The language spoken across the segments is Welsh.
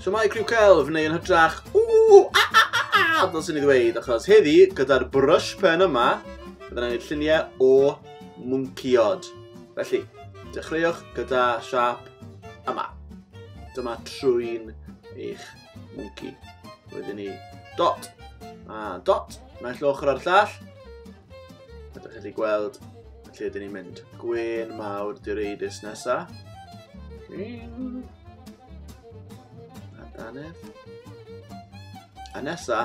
So mae criw celf neu yn hytrach, ww, a a a a, fel sy'n ei ddweud, achos heddi, gyda'r brush pen yma, byddai'n gwneud lluniau o mwnciod. Felly, dechreuwch gyda siap yma. Dyma trwy'n eich Monkey. Wedyn ni, dot. A dot, naill ochr ar llall. Ydych chi wedi gweld lle dyn ni'n mynd. Gwyn mawr direidus nesa. Gwyn. A danedd. A nesa,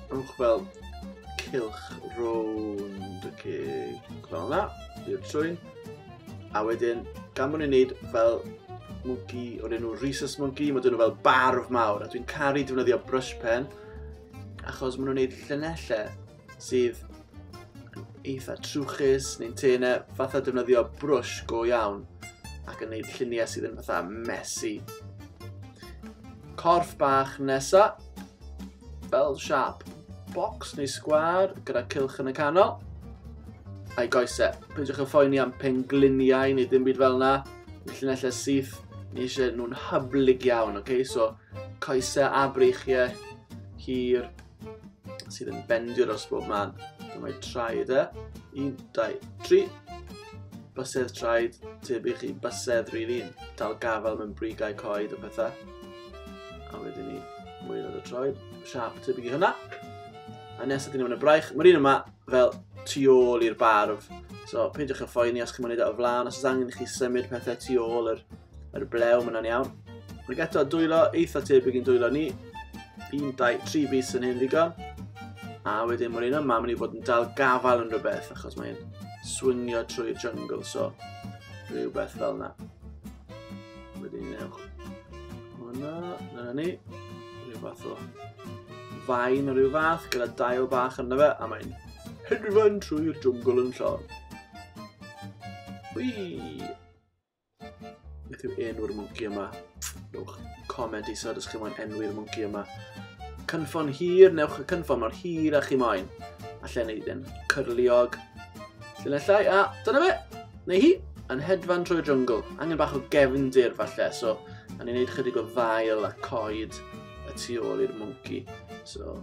ymwch fel cilch rownd y cig. Fel yna, i'r trwyn. A wedyn, gan bod ni'n neud fel mwgi o'r enw Rhesus Monkey, mae dyn nhw fel barf mawr, a dwi'n caru defnyddio brush pen, achos maen nhw'n neud llynellau sydd eitha trwchus neu'n tena fatha defnyddio brush go iawn ac yn neud lluniau sydd yn fatha messy. Corff bach nesa, bell sharp box neu sgwar gyda cilch yn y canol a'i goesau. Peidiwch yn phoeni am pengliniau neu dim byd fel yna. Mae llinellau syth, ni eisiau nhw'n hyblyg iawn, okay? So, coesau a breichiau hir sydd yn bendio dros bob man. Dyma'i traed e. 1, 2, 3. Bysedd traed, tebyg i bysedd rili, really, dal gafel mewn brigau coed a pethau. A wedyn ni, mwy o dy troed. Siap tebyg i hynna. A nesaf dyn ni'n mynd y braich. Mae'r un yma fel tu ôl i'r barf. So, peidiwch â phoeni os chi'n mynd o flaen, os oes angen i chi symud pethau tu ôl yr, yr blew, mae'n iawn. Ac eto, dwylo eitha tebyg i'n dwylo ni. 1, 2, 3 bus yn hyn ddigon. A wedyn mae'r un yma, mae'n i fod yn dal gafael yn rhywbeth, achos mae'n swingio trwy'r jungle, so rhywbeth fel yna. Wedyn ewch hwnna, dyna ni. Rhyw fath o fain o rhyw fath gyda dail bach yna fe a mae'n hedfan trwy'r jwngl yn llon. Wii! Beth yw enw'r mwnci yma? Rhowch comment iso, dys chi moyn enwi'r mwnci yma. Cynffon hir, newch y cynffon mor hir a chi moyn. A lle neud yn cyrliog. Lle nellai, a dyna fe! Neu hi, yn hedfan trwy'r jungle. Angen bach o gefndir falle, so a ni'n neud chydig o ddail a coed y tu ôl i'r mwnci. So,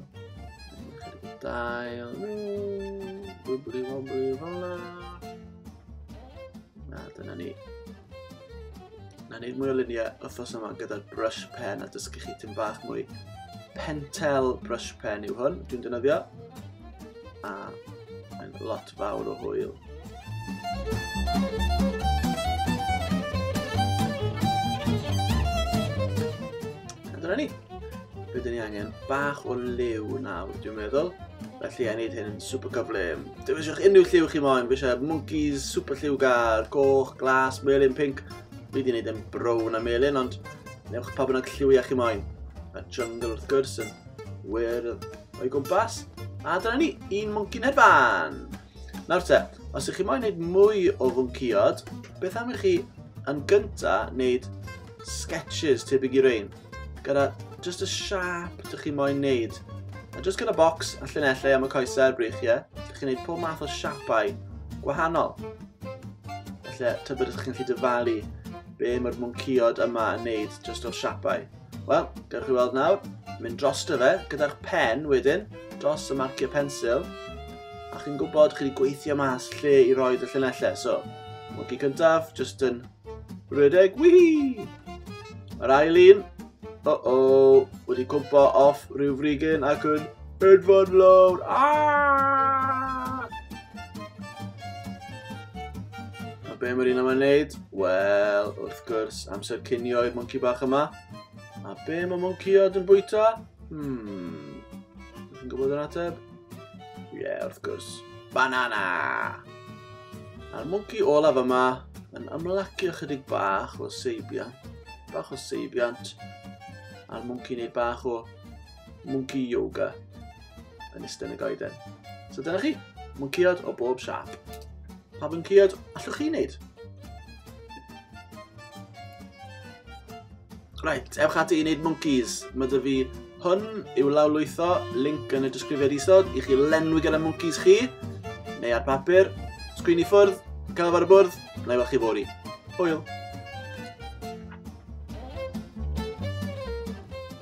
chydig o dail, wibbly wobbly fel na. Na, dyna ni. Na neud mwy o luniau wythnos yma gyda'r brush pen a dysgu chi tyn bach mwy. Pentel brush pen yw hwn, dwi'n dynyddio. a mae'n lot fawr o hwyl. A dyna ni. Byddwn ni angen bach o liw nawr, dwi'n meddwl. Felly, a wneud hyn yn super cyflym. Dyfysiwch unrhyw lliw chi moyn. Fi eisiau monkeys, super lliw gar, goch, glas, melin, pink. Fi wedi gwneud yn brown a melin, ond newch pa bynnag lliwiau chi moyn. A jungle, wrth gwrs, yn wyrdd, o'i gwmpas. A dyna ni, un mwnci neu fan. Nawr te, os ych chi moyn gwneud mwy o fwnciod, beth am i chi yn gynta wneud sketches tebyg i rein, gyda just y siap dych chi moyn wneud. A just gyda bocs a llunellau am y coesau a'r breichiau, dych chi'n gwneud pob math o siapau gwahanol. Felly, tybed ydych chi'n gallu dyfalu be mae'r mwnciod yma yn wneud just o'r siapau. Wel, gewch chi weld nawr, mynd dros dy fe, gyda'r pen wedyn, dros y marcio pensil, a chi'n gwybod chi wedi gweithio mas lle i roi dy llunellau. So, mwyn chi gyntaf, jyst yn rhedeg, wihi! Yr ail un, o o, wedi gwmpa off rhyw frigyn ac yn hedfan lawr, aaaaah! A be mae'r un yma'n neud? Wel, wrth gwrs, amser cinio i'r monci bach yma. A be mae monciod yn bwyta? Hmm. Yn gwybod yn ateb? Ie, yeah, wrth gwrs. Banana! A'r monci olaf yma yn ymlacio chydig bach o seibiant. Bach o seibiant. A'r monci neu bach o monci yoga. yn ystod y goeden. So dyna chi, mwncïod o bob siap. Pa mwncïod allwch chi wneud? Right, ewch ati i wneud monkeys. Mae dy fi hwn i'w lawlwytho, link yn y disgrifiad isod, i chi lenwi gyda monkeys chi, neu ar papur, sgrin i ffwrdd, cael ar y bwrdd, na i weld chi fori. Hwyl!